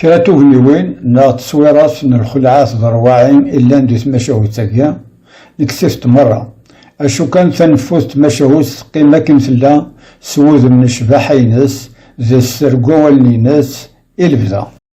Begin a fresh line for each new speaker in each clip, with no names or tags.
Kra n tugniwin neɣ tteswirat n lxelɛa tḍerwaɛin i llan di tmacahut-agi, neksif-t merra. Acu kan taneffut n tmacahut teqqim akken tella s wudem n ccbaḥa-ines d sser n wawalen-ines i lebda.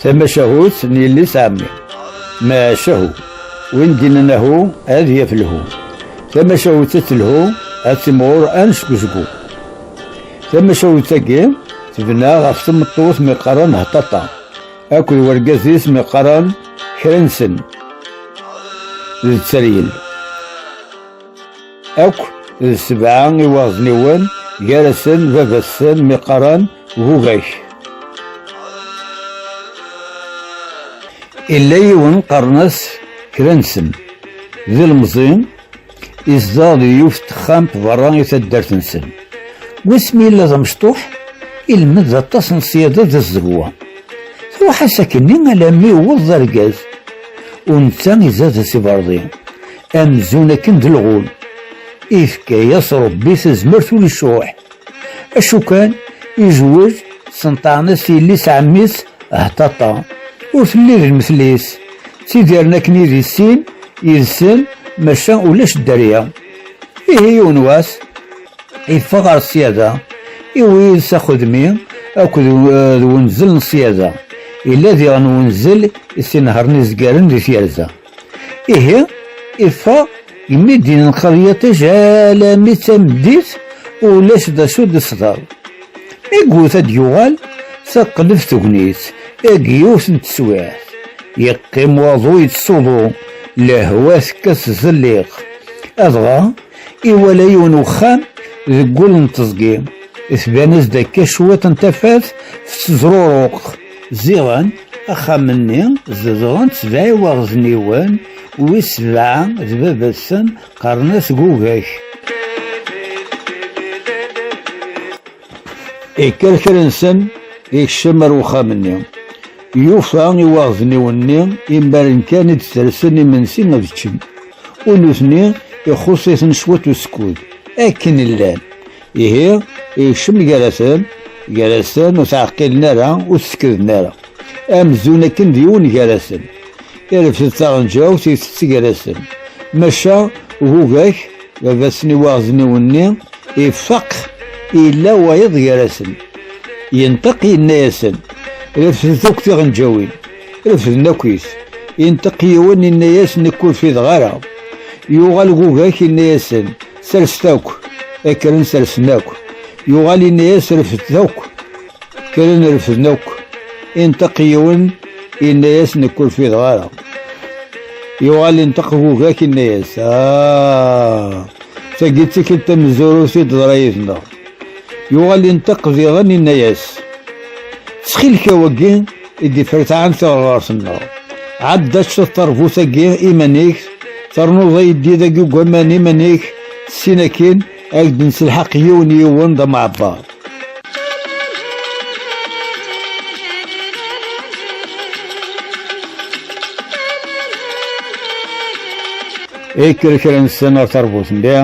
Tamacahut n yelli-s ɛemmi. Macahu, win d-innan ahu ad yaf lhu. Tamacahut ad telhu, ad timɣur anecgezgu. Tamacahut-agi tebna ɣef tmeṭṭut mi qqaren hṭaṭa akked wargaz-is mi qqaren kra-nsen d tteryel. Akk d sebɛa iwaɣezniwen gar-asen baba-sen miqaran Bubak. Illa yiwen qqaren-as Kransen, d ilemẓi izdeɣ di yiwet texxamt berra i taddart-nsen. Wasmi yella d amecṭuḥ, ilmed aṭas n ṣṣyada d zzegwa. Truḥ-as akkenni alammi yewweḍ d argaz, u netta izad-as iberḍi. amzun akken d lɣul ifka-yas rebbi tazmert ur yesruḥ acu kan izweǧ senṭaɛen-as yelli-s ɛemmi-s hṭaṭa ur telli d lmetl-is ttidiren akken i d issin yid-sen maca ulac dderya ihi yiwen wass yeffeɣ ɣer ṣyada iwi yid-s axudmi akked eh, d wenzel n ṣyada yella diɣen wenzel i s-inehṛen izgaren di tyerza Ihi, iffeɣ yemidi n lqeryaṭij alami d tameddit ulac d acu d-isḍer. Mi yewwet ad d-yuɣal, teqleb tegnit, eg yiwet n teswiɛt. Yeqqim waḍu yettsuḍu, lehwa tekkat zelliq. Adɣa, iwala yiwen uxxam deg wul n teẓgi, tban-as-d akka cwiṭ n tafat tettezruruq. Ziɣen axxam-nni zedɣen-t sebɛa iwaɣezniwen, wis sebɛa d baba-tsen qqaren-as Gugak. Ikker kra-nsen, ikcem ar uxxam-nni. Yufa iwaɣezniwen-nni imaren kan i d-tersen imensi ad ččen, u nutni ixuṣ-iten cwiṭ usekkud. Akken llan. Ihi, ikcem gar-asen, gar-asen ur ttɛeqqilen ara, ur t-sekkden ara. Amzun akken d yiwen gar-asen. Irefed taɣenǧawt itett gar-asen. Maca Gugak, baba-s n iwaɣezniwen-nni, ifaq illa wayeḍ gar-asen. Yenṭeq yenna-yasen, refdet akk tiɣenǧawin. Refden akkit. Yenṭeq yiwen yenna-yas nekk ur fideɣ ara. Yuɣal Gugak yenna-yasen, Serset akk, akkren sersen akk. Yuɣal inna-yas refdet akk, kkren refden akk. Inṭeq yiwen, inna-yas nekk ur fideɣ ara. Yuɣal inṭeq bugak inna-yas, ah, tagi d tikkelt tamezzurut i d-teḍra yid-neɣ. Yuɣal inṭeq diɣen inna-yas, ttxil-k awagi, i d-ifertaɛen tiɣerɣert-nneɣ. Ɛedda-tt teṛbut-agi iman-ik, ternuḍ ayeddid dagi deg waman iman-ik, tessin akin ad ak-d-nettelḥaq yiwen yiwen d ameɛbar. Yekker kra-nsen ɣer teṛbut-nni,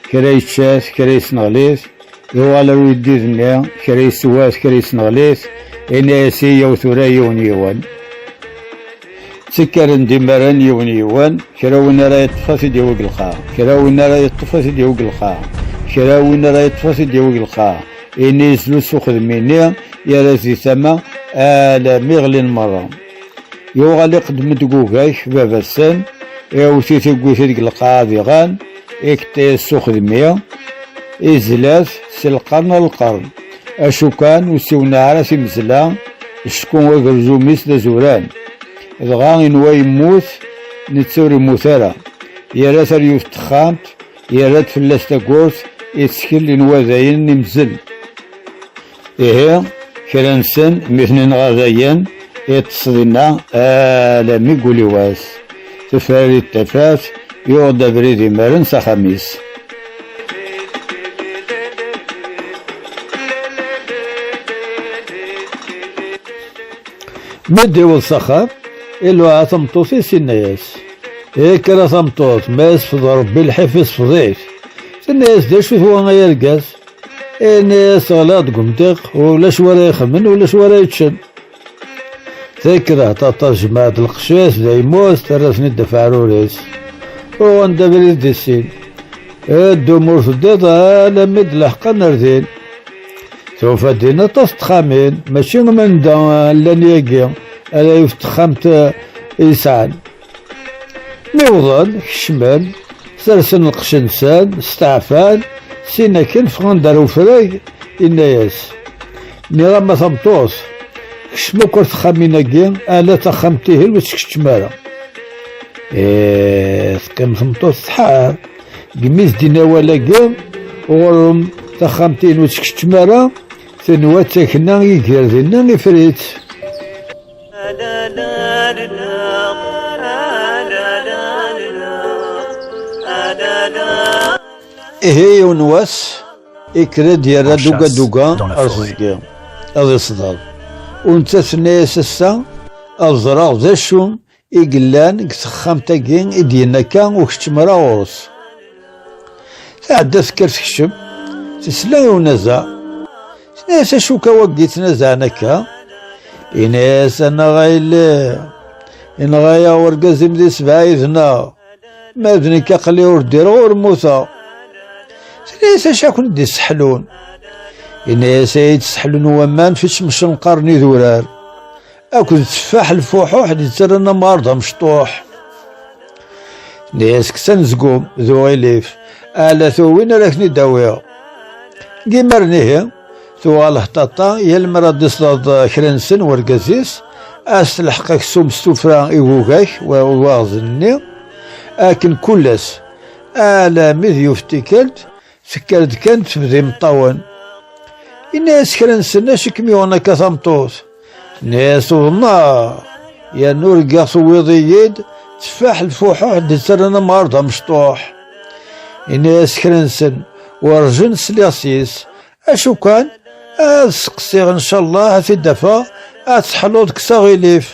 kra yečča-t, kra yesneɣli-t, Yuɣal ar uyeddid-nni, kra yeswa-t, kra yesneɣli-t, yenna-as i yaw tura yiwen yiwen. Ttekkaren-d imaren yiwen yiwen, kra win ara yeṭṭef ad t-id-yawi deg lqaɛ, kra win ara yeṭṭef ad t-id-yawi deg lqaɛ, kra win ara yeṭṭef ad t-id-yawi deg lqaɛ. Ini yezlu s uxedm-ini, yerra-t di tama, alami ɣlin merra. Yuɣal iqeddem-d deg ugak baba-sen, iɛewwet-it iwwet deg lqaɛa diɣen, iketta-yas s uxedmi, izla-t s lqern ar lqern. Acu kan ur ssiwneɛ ara timezla, acku agerzum-is d azuran. Dɣa inwa yemmut, netta ur immut ara. Yerra taryut n texxamt, yerra-d fell-as tagurt, ittkel inwa dayen imzel. Ihi, kra-nsen mi ten-inɣa dayen, iṭṭes dinna alami deg uliwas. Tefrarit tafat, yuɣ-d abrid imaren s axxam-is. Mi d-iweḍ s axxam, iluɛa tameṭṭut-is inna-yas, Yekker a tameṭṭut, ma yesfeḍ Rebbi lḥif isfeḍ-ik. Tenna-yas, D acu-t wa ay argaz? ini teɣliḍ deg umdiq ulac wara ixemmen ulac wara yeččen takraht aṭas jmaɛt lqecc-is d aymut terra-ten-id afeɛrur-is uɣen d abrid di sin ddum ur teddiḍ alammi d leḥqan ar din tufa din aṭas texxamin mačči am anda llan yagi ala yiwet texxamt i yesɛan Mi wḍen, kecmen, sersen lqecc-nsen, steɛfan, sin akken ffɣen-d ar ufrag, inna-yas, Nniɣ-am a tameṭṭut, kcem akk ar texxamin-agi, ala taxxamt-ihin ur tt-keččem ara. Ee, teqqim tmeṭṭut tḥar, gmi s-d-in awal-agi, ɣur-m taxxamt-ihin ur tt-keččem ara, tenwa d takna i ger dinna ifrit. Ihi yiwen wass yekker-d yerra duga duga ar teẓgi ad isḍer u nettat tenna-yas ass-a ad ẓreɣ d acu i yellan deg texxamt-agi i d-yenna akka ur keččem ara ɣur-s. Tɛedda tekker tekcem, tesla i unazaɛ. Tenna-as acu akka wagi ttnazaɛen akka? Yenna-as annaɣ a yelli, yenɣa-yaɣ urgaz-im di sebɛa yid-neɣ, ma d nekk aqli ur ddireɣ ur mmuteɣ. Tenna-as acu akk d-isseḥlun? Yenna-as ay d-sseḥlun waman fi cemcenqar n idurar. Akked tteffaḥ lfuḥuḥ d itterren amɣar d amecṭuḥ. Nnias-k s anezgum d uɣilif, ala tuwin ara ken-id-awiɣ. Deg imaren ihi, tuɣal hṭaṭa yal mi ara d-isleḍ kra nsen wergaz-is, ad s-telḥeq aksum s tufra i wugak waɣzen-nni, akken kul ass, alami d yuf tikkelt, Tekker-d kan tebda imeṭṭawen. Yenna-yas kra nsen acu i kem-yuɣen akka tameṭṭut? Tenna-yas tuḍneɣ yerna urgaɣ tuwiḍ-iyi-d teffaḥ lfuḥuḥ d-yettren amɣar d amecṭuḥ. Yenna-yas kra nsen werǧin sliɣ sys acu kan ad seqsiɣ ncallah ad t-id-afeɣ ad teḥluḍ kkes aɣilif.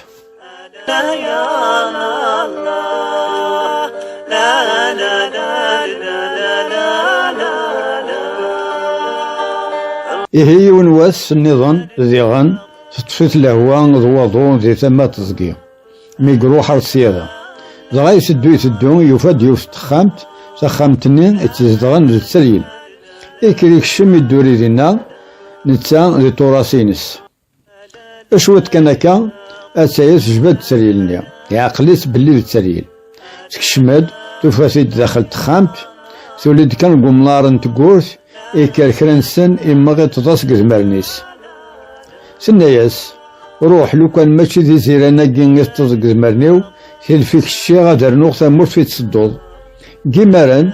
Ihi yiwen wass nniḍen diɣen teṭṭef-it lehwa d waḍu di tama teẓgi mi iruḥ ar ssyada dɣa iteddu iteddu yufa-d yiwet texxamt taxxamt-nni tt-zedɣen d tteryel ikker ikcem idduri dinna netta di turas-ines. Cwiṭ kan akka, attaya tejba-d tteryel-nni. Iɛqel-itt belli d tteryel. Tekcem-d, tufa-t-id daxel texxamt, tuli-d kan deg umnar n tewwurt, ikker kra nsen immeɣ iṭeḍ-as deg idmaren-is. Tenna-yas, Ruḥ, lukan mačči d iziran-agi i teṭṭeḍ deg idmaren-iw, tilef-ik cciɣ ad rnuɣ tamurt i tettedduḍ. Deg imaren,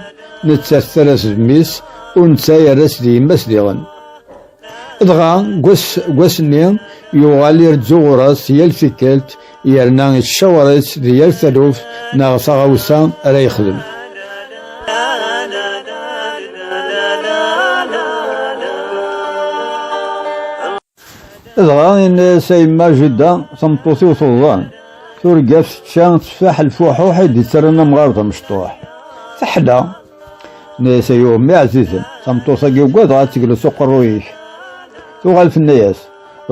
nettat terra-s d mmi-s, u netta yerra-s d yemma-s diɣen. Dɣa deg wass-nni yuɣal iredzu ɣur-s yal tikkelt yerna yettcawaṛ-itt di yal taluft neɣ taɣawsa ara yexdem. Dɣa yenna-as a yemma Jidda, tameṭṭut-iw tuḍan, turgaf tečča tteffaḥ lfuḥuḥ i d-ittarran amɣar d amecṭuḥ. Teḥla! Neyse yo mi azizem, tameṭṭut-agi ugadeɣ ad tegles uqerruy-ik. Tuɣal tenna-yas,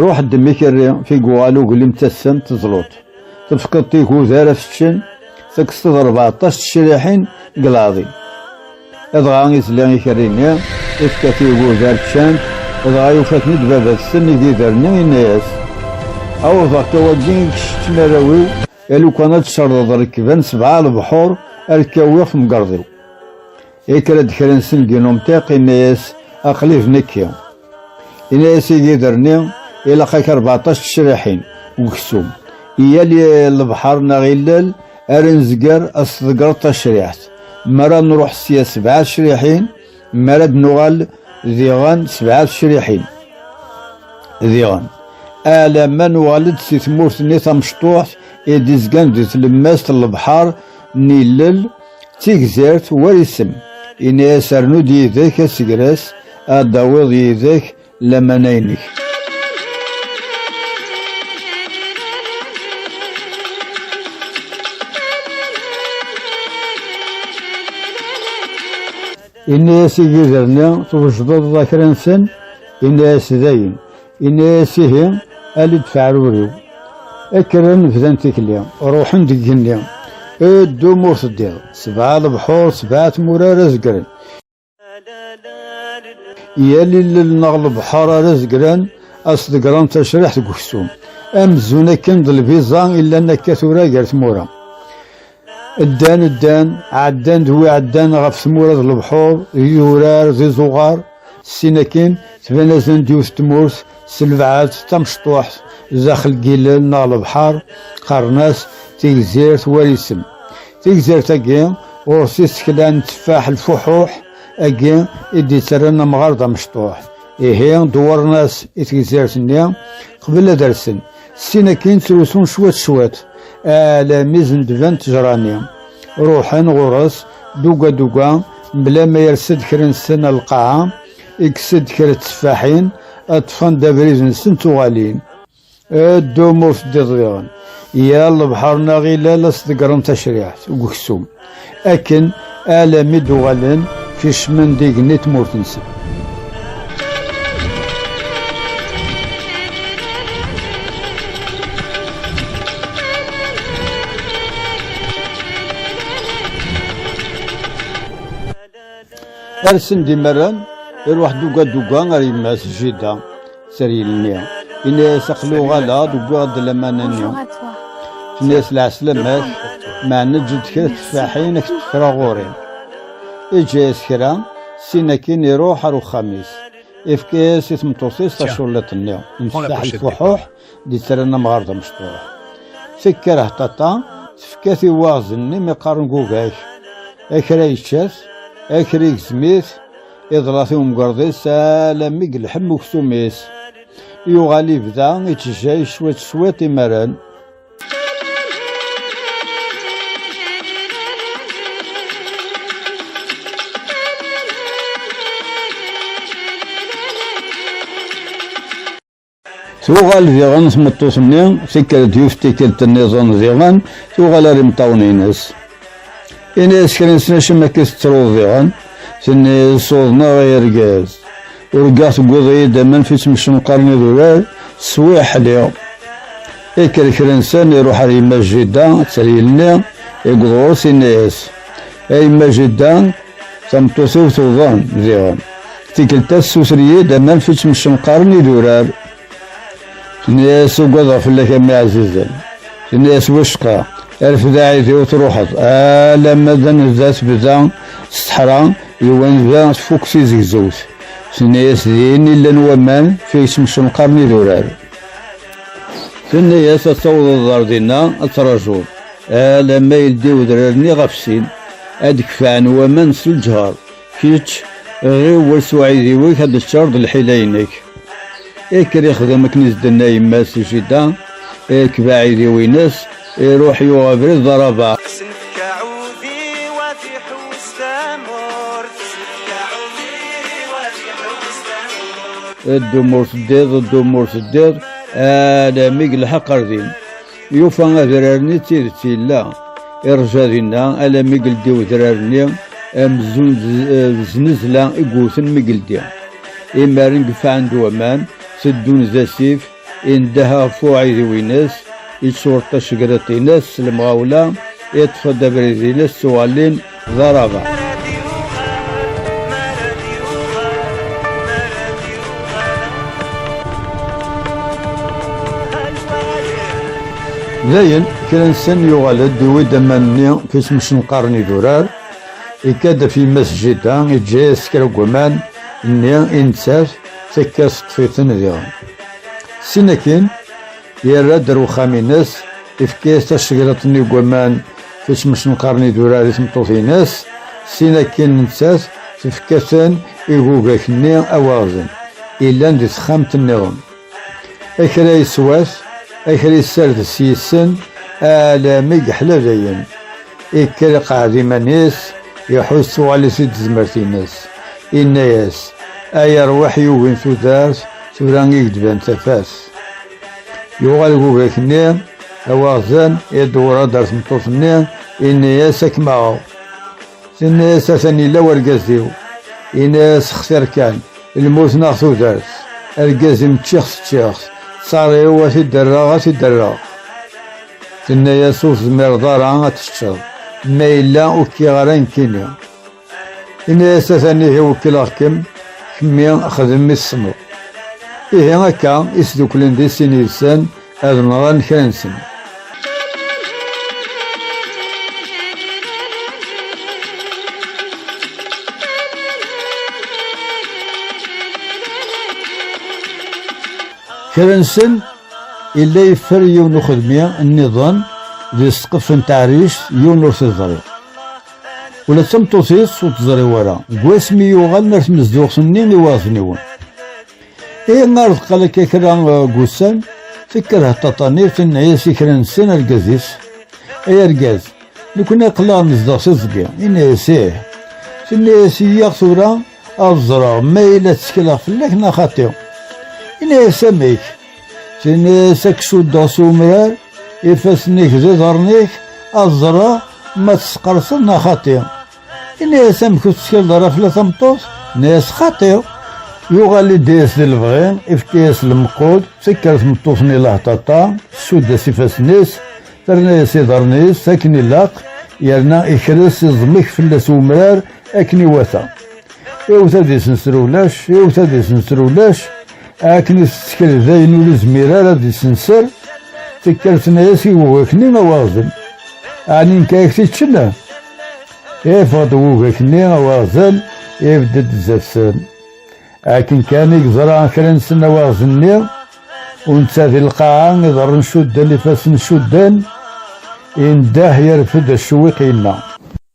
ruḥ ddem ikerri, figu aluglim tassam teẓlut. Tefkeḍ tigud ara feččen, tekseḍ rbeɛṭac tecriḥin deg lɛaḍi. Adɣa izla ikerri-nni, ifka tigud ar ččant, adɣa yufa-ten-id baba-tsen igider-nni, yenna-yas, awḍeɣ-k awagi i kečč ttmaraw-iw, A lukan ad tserdeḍ rekban sebɛa lebḥur ad k-awiɣ temgerḍ-iw. Yekker-d kra n sengi n umtiq yenna-yas aql-i d nekki. Yenna-yas i yigider-nni ilaq-ak rbeɛṭac tecraḥin n uksum i yal lebḥer neɣ illel ara nezger ad s-tḍeggreḍ tacriḥt. Mi ara nruḥ sya sebɛa tecraḥin Mi ara d-nuɣal diɣen sebɛa tecriḥin diɣen alama nuɣal-d si tmurt-nni tamecṭuḥt i d-izgan di tlemmast n lebḥer n ilel d tigzirt war isem. Ini-as rnu-d yid-k asegras ad d-tawiḍ yid-k lamana-inek. Ini-as i yiger-nni, twejdeḍ akra-nsen, ini-as dayen. Ini-as ihi, ali-d feɛruriw. Akkren bdan tikli, ruḥen deg igenni. Ddum ur teddiḍ, sebɛa lebḥur, sebɛa tmura ara zegren. Yal illel neɣ lebḥer ara zegran as degran tacriḥt deg uksum amzun akken d lbiza illan akka tura gar tmura ddan ddan ɛeddan d wi ɛeddan ɣef tmura d lebḥur d idurar d izuɣar sin akin tban azan d yiwet tmurt s lbeɛd tamecṭuḥt daxel n yilel neɣ lebḥer qqaren-as tigzirt war isem Tigzirt-agi ɣur-s isekla n tteffaḥ lfuḥuḥ, agi i d-yettarran amɣar d amecṭuḥ. Ihi, dewwren-as i tegzirt-nni, qbel ad rsen. Syin akkin ttrusun cwiṭ cwiṭ, alami zendben ttejra-nni. Ruḥen ɣur-s duga duga, mebla ma yers-d kra nsen ar lqaɛa, ikkes-d kra tteffaḥin, ṭṭfen-d abrid-nsen ttuɣalin. Ddum ur teddiḍ diɣen. Yal lebḥer neɣ ilal ad s-ḍeggren tacriḥt deg uksum, akken alami d-uɣalen kecmen d igenni tmurt-nsen. Arsen-d imerran, iruḥ duga duga ar yemma-s Jida, Seril-nni. Yenna-yas aqli uɣaleɣ-d wwiɣ-d laman-nni. Tenna-yas lɛeslamat, meɛna eǧǧ-d kra teffaḥin ad k-d-kkreɣ ɣur-i. Iǧǧa-yas kra, sin akin iruḥ ar uxxam-is. Ifka-yas i tmeṭṭut-is taculliḍt-nni n teffaḥ n tfuḥuḥ, d itran amɣar d amecṭuḥ. Tekker hṭaṭa, tefka-t i waɣzen-nni mi qqaren gugak. Akra yečča-t, akra igzem-it, iḍlat i umgerḍ-is alammi gelḥem uksum-is. Yuɣal ibda ittejjay cwiṭ cwiṭ imaren. Tuɣal diɣen tmeṭṭut-nni, tikkelt yuf tikkelt nniḍen diɣen, tuɣal ar imeṭṭawen-ines. Ini-as kra nessen acimi akka tettruḍ diɣen, tenni-as uḍneɣ ay argaz. Urgaɣ tewwiḍ-iyi-d aman fi ttmecnqaren idurar, swiɣ ḥliɣ. Ikker kra nessen iruḥ ar yemma Jida, tteryel-nni, i yeḍur, tinna-as. Ay ma jidda, tameṭṭut-iw tuḍen diɣen. Tikkelt-a tessuter-iyi-d aman fitt mcenqaren idurar. Tenna-yas ugadeɣ fell-ak a mmi ɛzizen. Tenna-yas wacqa, arfed aɛidiw truḥeḍ, alamma d anezda tebda s teḥra d wanezda tfukk tizegzewt. Tenna-yas din i llan waman fitt mcenqaren idurar. Tenna-yas ad tawḍeḍ ar dinna ad trajuḍ. Alamma yeldi udrar-nni ɣef sin, ad d-kefɛen waman s lǧher. Kečč, ɣiwel s uɛidiw-ik ad d-teččareḍ lḥila-inek. Ikker ixdem akken i s-d-tenna yemma-s i Jida, irkeb aɛidiw-ines, iruḥ yuɣ abrid d arabaɛ. Ddum ur teddiḍ, ddum ur teddiḍ, alammi yelḥeq ar din. Yufa adrar-nni d tidet yella. Irja dinna alami geldi udrar-nni amzun d znezla i yewten mi geldi. Imaren gefɛen-d waman, teddun d asif, indeh ɣef uɛidiw-ines, yettweṭṭ tacegriṭ-ines s lemɣawla, iṭṭef-d abrid-ines ttuɣalin D arabeɛ. Dayen, kra n sen yuɣal-d, iwi-d aman-nni kismsenqaren idurar, ikka-d af yemma-s Jida, iǧǧa-yas kra n waman nni i nettat, tekka teṭṭef-iten diɣen. Sin akin, yerra-d ar uxxam-ines, ifka-yas tasegreḍt-nni n waman, Isem-is neqqaren idurar i tmeṭṭut-ines, sin akin nettat tefka-ten i gugak-nni awaɣzen, illan di texxamt-nniḍen. Akra yeswas, akra yessardes yissen, alami yeḥla dayen. Ikker iqeɛɛed iman-is, iḥus tuɣal-is-id tezmert-ines. Inna-yas, Ay arwaḥ yugin tudert, tura i k-d-ban tafat. Yuɣal gugak-nni, awaɣzen, i d-wrad ar tmeṭṭut-nni, inni-as ad kem-aɣeɣ. Tenna-as atan yella wergaz-iw. Yenna-as xtir kan, lmut neɣ tudert. Argaz-im ččiɣ-t ččiɣ-t, ttaṛ-iw ad t-id-rreɣ ad t-id-rreɣ. Tenna-as ur tezmireḍ ara ad teččeḍ, ma yella ur k-iɣ ara nekkini. Ini-as atan ihi wekkileɣ-kem, kemmi xdem mi tessneḍ. Ihi akka i sduklen di sin yid-sen ad nɣen kra-nsen. Kra-nsen illa yeffer yiwen uxedmi nniḍen di ssqef n teɛrict yiwen ur t-ẓriɣ. Ula d tameṭṭut-is ur teẓri wara, deg wasmi yuɣalen ar tmezduɣt-nni i waɣzen-iwen. I ar deqqal akka kra eh, n wussan, tekker Hṭaṭani tenna-yas i kra nsen argaz-is, ay argaz, nekni aql-aɣ nezdeɣ s iẓgi, inna-yas ih. Tenna-yas iyyaɣ tura ad ẓreɣ ma yella ttekleɣ fell-ak neɣ xaṭi. Inna-yas amek? Tini-as ad k-suddeɣ s umrar, ifassen-ik d iḍarren-ik, ad ẓreɣ ma tesqerseḍ neɣ xaṭi. Ini-as amek ur tettkeḍ ara fell-a tameṭṭut, ini-as xaṭi. Yuɣal iddi-as di lebɣi, ifka-as lemqud, tekker tmeṭṭut-nni laḥṭaṭa, tsudd-as ifassen-is, terna-as iḍarren-is, akken ilaq, yerna ikres iẓmek fell-as umrar akken iwata. Iwet ad isenser ulac, iwet ad isenser ulac, Akken i tettkel d ayen ur izmir ara ad isenser, tekker tenna-yas i ugak-nni awaɣzen. Ɛni nekk ak t-iččen? Yeffeɣ-d ugak-nni awaɣzen, ibedd-d zdat-sen. Akken kan i yeẓra kra n sen awaɣzen-nni, u netta di lqaɛa, iḍarren cudden, ifassen cudden, indeh, yerfed acewwiq, yenna.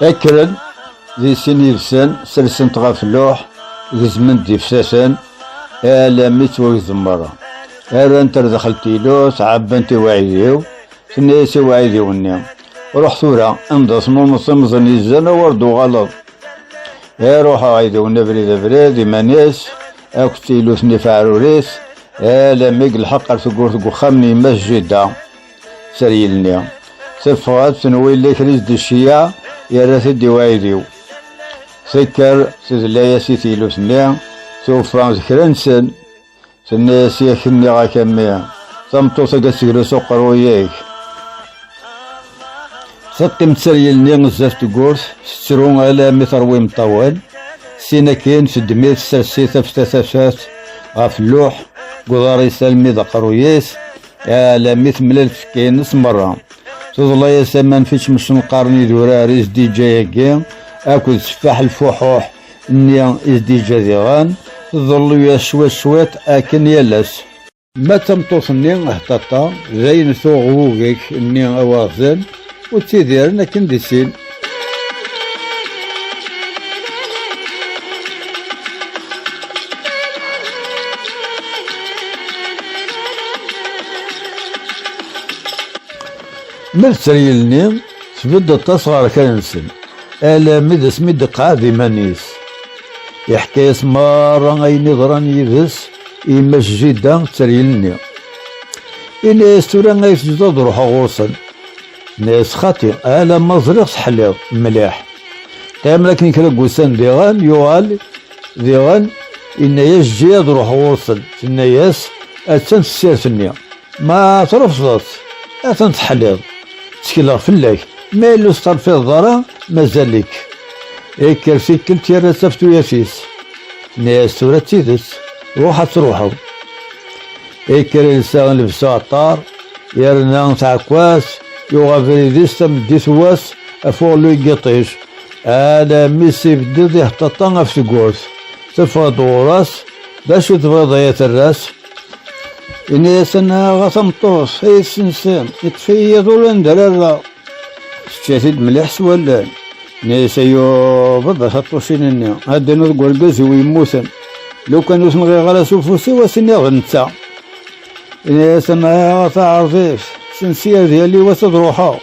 Akkren di sin yid-sen, selsen-t ɣef luḥ, gezmen-d ifsasen, alami ttwagzen merra. Rrant ar daxel tilut, ɛebbant i uɛidiw, tenna-yas i uɛidiw-nni, ruḥ tura, anda tnumeḍ timẓin yezzen, awar d-uɣaleḍ. Iruḥ uɛidiw-nni abrid abrid, iman-is, akked tilut-nni faɛrurit, alami gelḥeq ar tewwurt deg uxxam n yemma-s Jida. Teryel-nni teffeɣ-d tenwi yella kra i s-d-iceyyeɛ yerra-t-id i uɛidiw. Tekker tedla-as i teylut-nni tufa d kra nsen. Tenna-as yak nniɣ-ak a mmi, tameṭṭut-agi ad teglu s uqerruy-ik. Teqqim Teryel-nni zdat tewwurt tettru alammi terwa imeṭṭawen, sin akin teddem-it tessers-it afta tafat ɣef lluḥ deg uḍar-is almi d aqerruy-is. Alammi temlal tfekka-ines merra. Tuḍla-yas aman fič msenqaren idurar i s-d-iǧǧa-yagi akked teffaḥ lfuḥuḥ nni i s-d-iǧǧa diɣen, tḍellu-yas cwiṭ cwiṭ akken yal ass. Ma d tameṭṭut-nni hṭaṭa, dayen tuɣ wugek nni awaɣzen, ur ttidiren akken di sin. Ma d treyel-nni, tbedd aṭas ɣer kan-nsen, alami d asmi d-iqɛed iman-is. Iḥka-yas merra ayen iḍran yid-s i yemma Jida d treyel-nni. Ini-yas tura ay tezdeɣ ad ruḥeɣ ɣur-sen. Nna-yas, Xaṭi, alamma ẓriɣ teḥliḍ mliḥ. Qqimen akken kra n wussan diɣen, yuɣal diɣen, yenna-yas, Eǧǧ-iyi ad ruḥeɣ ɣur-sen. Tenna-yas, Attan tessirt-nni. Ma trefdeḍ-tt, atan teḥliḍ. Ttekleɣ fell-ak. Ma yella ur testerfideḍ ara, mazal-ik. Ikker tikkelt yerra taftuya-s. Tenna-yas, Tura d tidet, ruḥ ad truḥeḍ. Yekker ilsa lebs uɛeṭṭar, yerna tɛekkwat, yuɣ abrid-is tameddit n wass, afuɣlu n yiṭij, alammi s-ibded iheṭṭaṭa ɣef tewwurt. Teffeɣ-d ɣur-s, D acu i tebɣiḍ ay aterras? Yenna-as, Annaɣ a tameṭṭut, ay d-ssensen, yeṭṭef-iyi yiḍ ur anda ara rreɣ. Tečča-t-id mliḥ s wallen. Neysa yuweḍ taṭṭucin-nni. Adden deg urgaz-iw yemmuten. Lukan ur ten-ɣiɣ ara s ufus-iw ad s-iniɣ d netta. Neysa ma ɣef aɛref-is. Sensi ad yali wass ad ruḥeɣ.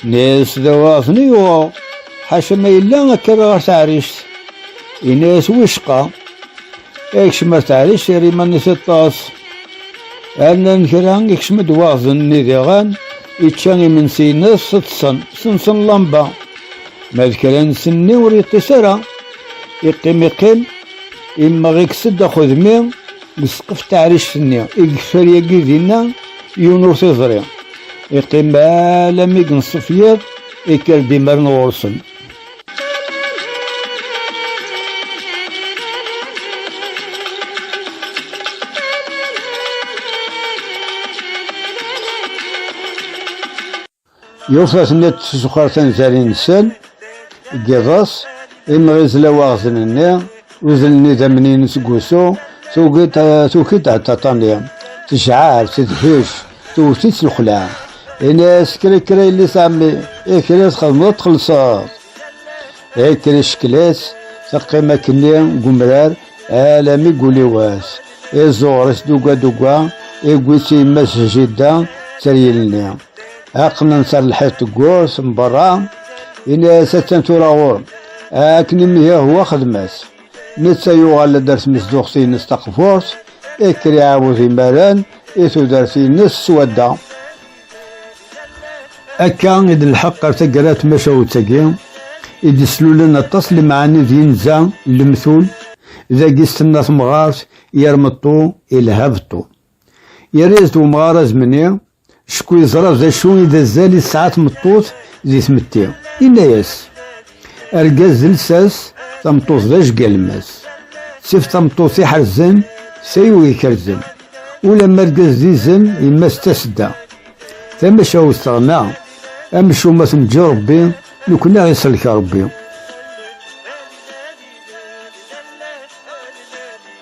Neysa dawaɣ-ten-i yuɣeɣ. Ḥaca ma yella akka ɣer taɛrict. Ini-as wicqa. Ikcem ar taɛrict yerra iman-is iṭṭes. Annan kra ikcem-d waɣzen n idiɣan, ičča imensi-ines, ṭṭsen, sensen lamba. Ma d kra n senni ur yeṭṭis ara, iqqim iqqim, immeɣ ikkes-d axudmi deg ssqef taɛrict-nni, i yeffer yagi dinna yiwen ur t-iẓri. Iqqim alammi yenṣef yiḍ, ikker-d imerna ɣur-sen. Yufa teniḍ tzuxar tanzarin-nsen, deg iḍes, imɣi izla waɣzen-nni, Udel n idammen-inu seg wusu, tuki-d aṭaṭa-nni, tejɛer, tedhec, tewwet-itt lexla. Ini-as, kra kra yelli-s ɛemmi, i kra txedmeḍ txellṣeḍ. I kra icekkel-itt, teqqim akkenni deg umrar, alami deg ul-iw ass. Iẓuɣer-is dugga dugga, iwwi-tt yemma-s jidda, tteryel-nni. Aqnent ar lḥiḍ teggurt n berra, yenna-as attan tura ɣur-m. Akken imi Yahuwa xedm-as. Netta yuɣal-d ar tmezduɣt-ines taqburt, ikker iɛawed imaren i tudert-ines s wadda. Akka i d-nlḥeq ar taggara n tmacahut-agi, i d-islulen aṭas n lemɛani d yinza n lemtul, dagi s tenna temɣart, yermeṭṭu, ilha beṭṭu. Yerra-yas-d umɣar azemni, cku yeẓra d acu i d azal i tesɛa tmeṭṭut di tmetti. Inna-yas, argaz d lsas, tameṭṭut d ajgalmas. Sif tameṭṭut iḥerzen, tayu ikerzen. Ulamma argaz d izen, yemma-s d tasedda. Tamacahut teɣna, amcum ad ten-ǧǧi Rebbi, nekkni ad ɣ-isellek Rebbi.